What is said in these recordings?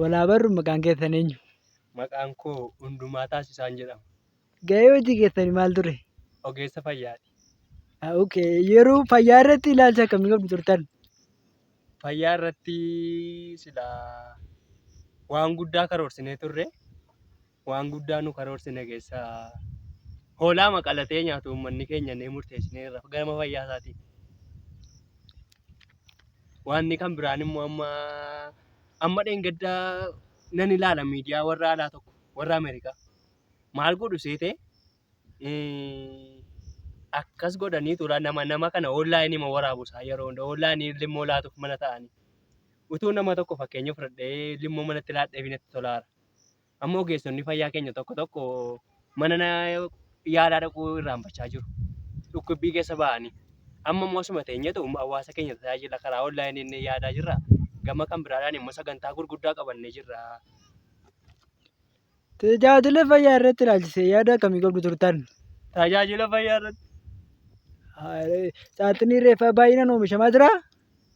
Walaa barru maqaan keessan eenyu? Maqaan koo Hundumaa Taasisaan jedhama. Ga'ee hojii keessanii maal ture? Ogeessa fayyaati. Ah, okay. Yeroo fayyaa irratti ilaalcha akkamii qabdu turtan? fayyaa irratti sila waan guddaa karoorsinee turre waan guddaa nu karoorsine keessa hoolaa maqalatee nyaatu uummanni keenya ni murteessinee irra gama fayyaa isaatiin. Waanni kan biraan immoo amma amma dheengaddaa nan ilaala miidiyaa warra alaa tokko warra Ameerikaa maal godhu seetee akkas godhanii tura nama nama kana online ma waraabu isaa yeroo hunda online limmoo laatuuf mana ta'anii utuu nama tokko fakkeenya fudhadhee limmoo manatti laadhee fi natti tolaara amma ogeessonni fayyaa keenya tokko tokko mana na- yaalaa dhaquu irraanfachaa jiru dhukkubbii keessa ba'anii amma immoo asuma teenyetu hawaasa keenya tajaajila karaa online inni yaadaa jirra gama kan biraadhaan immoo sagantaa gurguddaa qabannee jirra Tajaajila fayyaa irratti ilaalchisee yaada akkamii qabdu turtan? Tajaajila fayyaa irratti. Saaxinii reeffaa baay'inaan oomishamaa jira.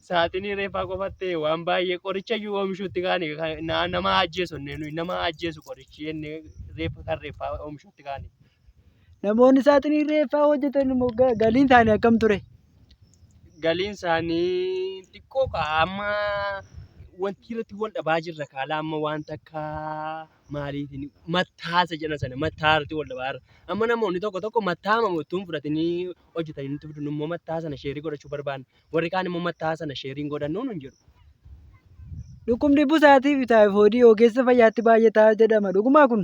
Saaxinii reeffaa qofatti waan baay'ee qoricha iyyuu oomishuutti kaane nama ajjeesu nama ajjeesu qorichi jennee reeffa kan reeffaa oomishuutti kaane. Namoonni saaxinii reeffaa hojjetan immoo galiin isaanii akkam ture? galiin isaanii xiqqoo kaa amma wanti irratti wal dhabaa jirra kaala amma waan takka maaliitiin mattaasa jedhan sana mattaa irratti wal dhabaa jirra. Amma namoonni tokko tokko mattaa mamu ittuu hin fudhatanii hojjetanii nutti fidu immoo mattaa sana sheerii godhachuu barbaanna warri kaan immoo mattaa sana sheeriin godhannuu nun jedhu. Dhukkubni busaatii fi taayifoodii ogeessa fayyaatti baay'ataa jedhama. Dhugumaa kun?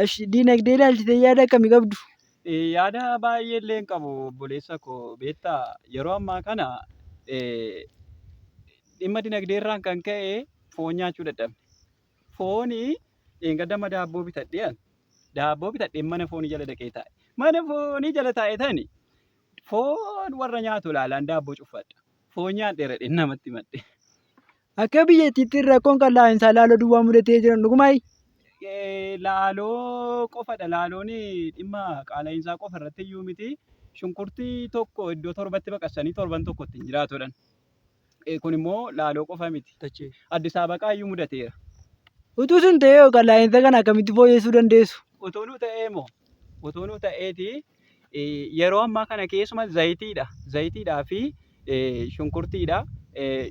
Ash diinagdee ilaalchisee yaada akkamii qabdu? Eh, Yaada baay'ee illee hin qabu obboleessa koo beektaa yeroo ammaa kana eh, dhimma dinagdee irraan kan ka'e foon nyaachuu dadhabne. Fooni dheengadama daabboo bitadhee an daabboo bitadhee mana foonii jala dhaqee taa'e. Mana foonii jala taa'e tani foon warra nyaatu ilaalaan daabboo cuffadha. Foon nyaadheera dheen namatti madde. Akka biyyattiitti rakkoon kan laa'iinsaa laaloo duwwaa mudatee jiran dhugumaayi? Laaloo qofadha. Laaloon dhimma qaala'iinsaa qofa irratti iyyuu miti. Shunkurtii tokko iddoo torbatti baqassanii torban tokko ittiin jiraatudhan. Kun immoo laaloo qofa miti. Addis Abaqaa iyyuu mudateera. Utuu sun ta'ee hoo kan laa'iinsa kana akkamitti fooyyessuu dandeessu? Utuu nu ta'ee moo? Utuu nu ta'eeti Yeroo ammaa kana keessuma zayitiidha. Zayitiidhaa fi shunkurtiidha.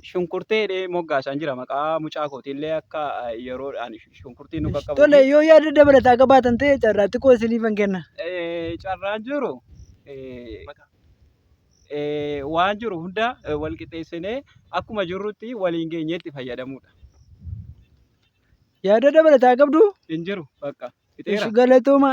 Shunkurtee jedhee moggaasaan jira maqaa mucaa kootiillee akka yeroodhaan shunkurtii nu qaqqabu. Tole yoo yaada dabalataa qabaatan ta'e carraa xiqqoo isiniifan kenna. Carraan jiru waan jiru hunda wal qixxeessinee akkuma jirrutti waliin geenyee itti fayyadamuudha. Yaada dabalataa qabdu? Hin jiru bakka. Ishi galatooma.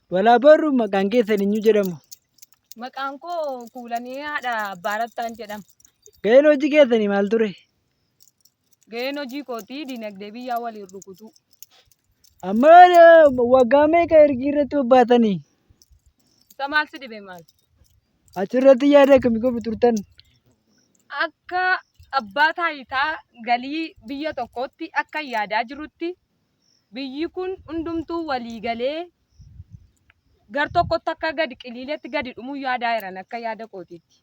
Walaa barru maqaan keessan eenyu jedhamu? Maqaan koo Kuulanii haadha Abbaa Rattaan jedhama. Ga'een hojii keessanii maal ture? Ga'een hojii kootii dinagdee biyyaa waliin rukutuu. Amma eh, waggaa meeqa ergi irratti bobbaatanii? Isa maal si dhibe maal? Achirratti yaada akkamii gofi turtan? Akka abbaa taayitaa galii biyya tokkootti akka yaadaa jirutti biyyi kun hundumtuu walii galee gar tokkotti akka gadi qiliiletti gadi dhumuu yaadaa jiran akka yaada kootiitti.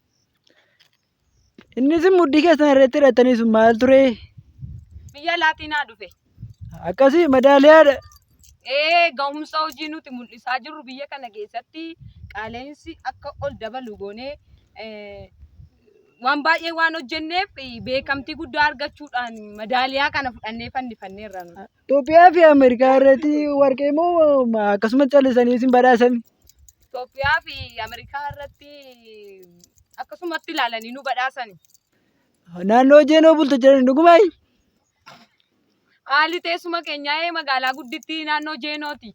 Innis mudhii keessan irratti hidhattanii sun maal ture? Biyya laatiin haa dhufe. Akkasii madaaliyaadha. Ee gahumsa hojii nuti mul'isaa jirru biyya kana keessatti qaala'insi akka ol dabalu goonee eh, waan baay'ee waan hojjenneef beekamtii guddaa argachuudhaan madaaliyaa kana fudhannee fannifanneerra. Itoophiyaa fi Ameerikaa irratti warqee moo akkasumas callisanii isin badhaasan? Itoophiyaa fi Ameerikaa irratti akkasumatti ilaalanii nu badhaasan. Naannoo Jeenoo bultu jedhan dhugumaay? Haalli teessuma keenyaa magaalaa guddittii naannoo Jeenooti.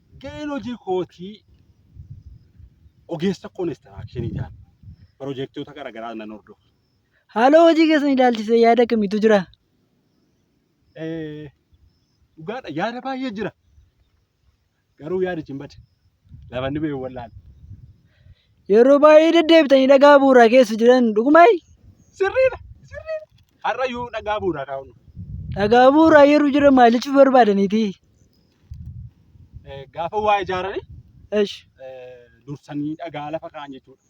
Ga'een hojii kootii ogeessa konistiraakshinii ta'an pirojektoota garaagaraa nan hordofa. Haaloo hojii keessan ilaalchisee yaada kamitu jira? Eh, Dhugaadha yaada baay'ee jira. Garuu yaadichi hin bade. Lafanni ba'e hin wal'aane. Yeroo baay'ee deddeebitanii dhagaa bu'uuraa keessa jiran dhugumaayi? Sirriidha. Sirriidha. Har'a yoo dhagaa bu'uuraa kaa'u. Dhagaa bu'uuraa yeroo jiran maal jechuuf barbaadaniiti? Eh, Gaafa waa ijaarani Esh. eh, dursanii dhagaa lafa kaa'an jechuudha.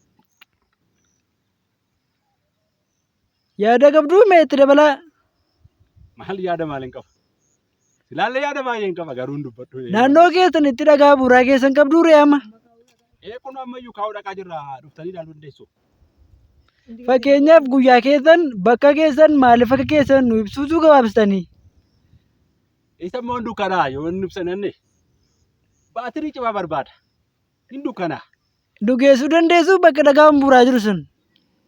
Yaada qabduu mee itti dabalaa. Maal yaada maal hin qabu? Silaallee yaada baay'ee hin qaba garuu hin dubbadhu. Naannoo keessan itti dhagaa buuraa keessan qabduu ree amma. Eh, kun ammayyuu kaa'uu dhaqaa jirra dhuftanii ilaaluu dandeessu. Fakkeenyaaf guyyaa keessan bakka keessan maaliif akka keessan nu ibsuutu gabaabsitanii. Isa immoo hin dukkanaa yoo hin ibsananne baatirii cimaa barbaada. Hin dukkanaa. Dhugeessuu dandeessu bakka dhagaan buuraa jiru sun.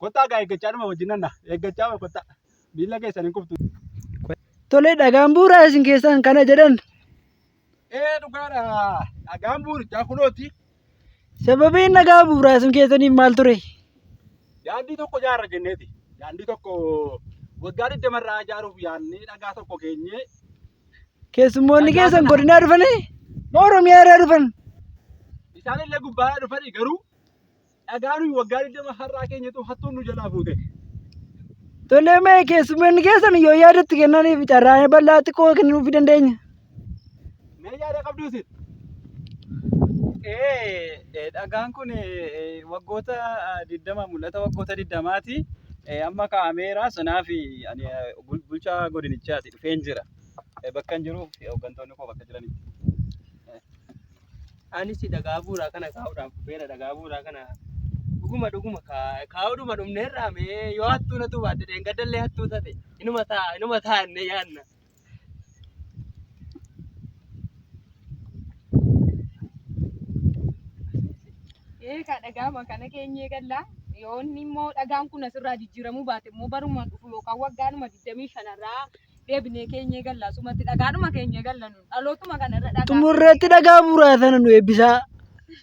Kottaa gaa eeggachaa dhuma wajjin nanna. Eeggachaa wa kottaa. Miila keessan hin kuftu. Tole dhagaan buuraa isin keessaan kana jedhan. Ee dhugaadha. Dhagaan buurichaa kunooti. Sababiin nagaa bu'uuraasuu keessaniif maal ture? Daandii tokko ijaarra jenneeti. Daandii tokko waggaa 20 irraa ijaaruuf yaadnee dhagaa tokko keenyee Keessummoonni keessan godinaa dhufanii moo Oromiyaa irraa dhufan? isaan illee gubbaadhaa dhufanii garuu dhagaa nuyi waggaa 20 har'aa keenyatu hattuun nu jalaa fuute. Tolee mee keessummoonni keessan yoo yaadatti kennaniif carraa bal'aa xiqqoo kennuufii dandeenya. Mee yaada qabduu isin? Ee, ee, dhagaan kun ee, ee, waggoota ah, 20 mul'ata waggoota 20ti ee, amma kaa'ameera sanaaf ani eh, bul- bulchaa godinichaati dhufeen jira Eh, bakka hin jiruuf eh, hooggantoonni koo bakka jiranitti Anis dhagaa bu'uuraa kana kaa'uudhaaf dhufeera. Dhagaa bu'uuraa kana dhuguma dhuguma kaa- kaa'uudhuma dhumneerraa mee yoo hattuu natu baatte dheengaddallee hattuu taate inuma ta'a inuma ta'a innee yaadna. Eegaa dhagaama kana keenyee gallaa yoonni immoo dhagaan kun asirraa jijjiiramuu baate immoo baruma dhufu yookaan waggaanuma 25 irraa deebinee keenyee gallaa sumatti dhagaadhuma keenyee galla nu dhalootuma kana irra dhagaa. Xumurreetti dhagaa muraasana nu eebbisaa.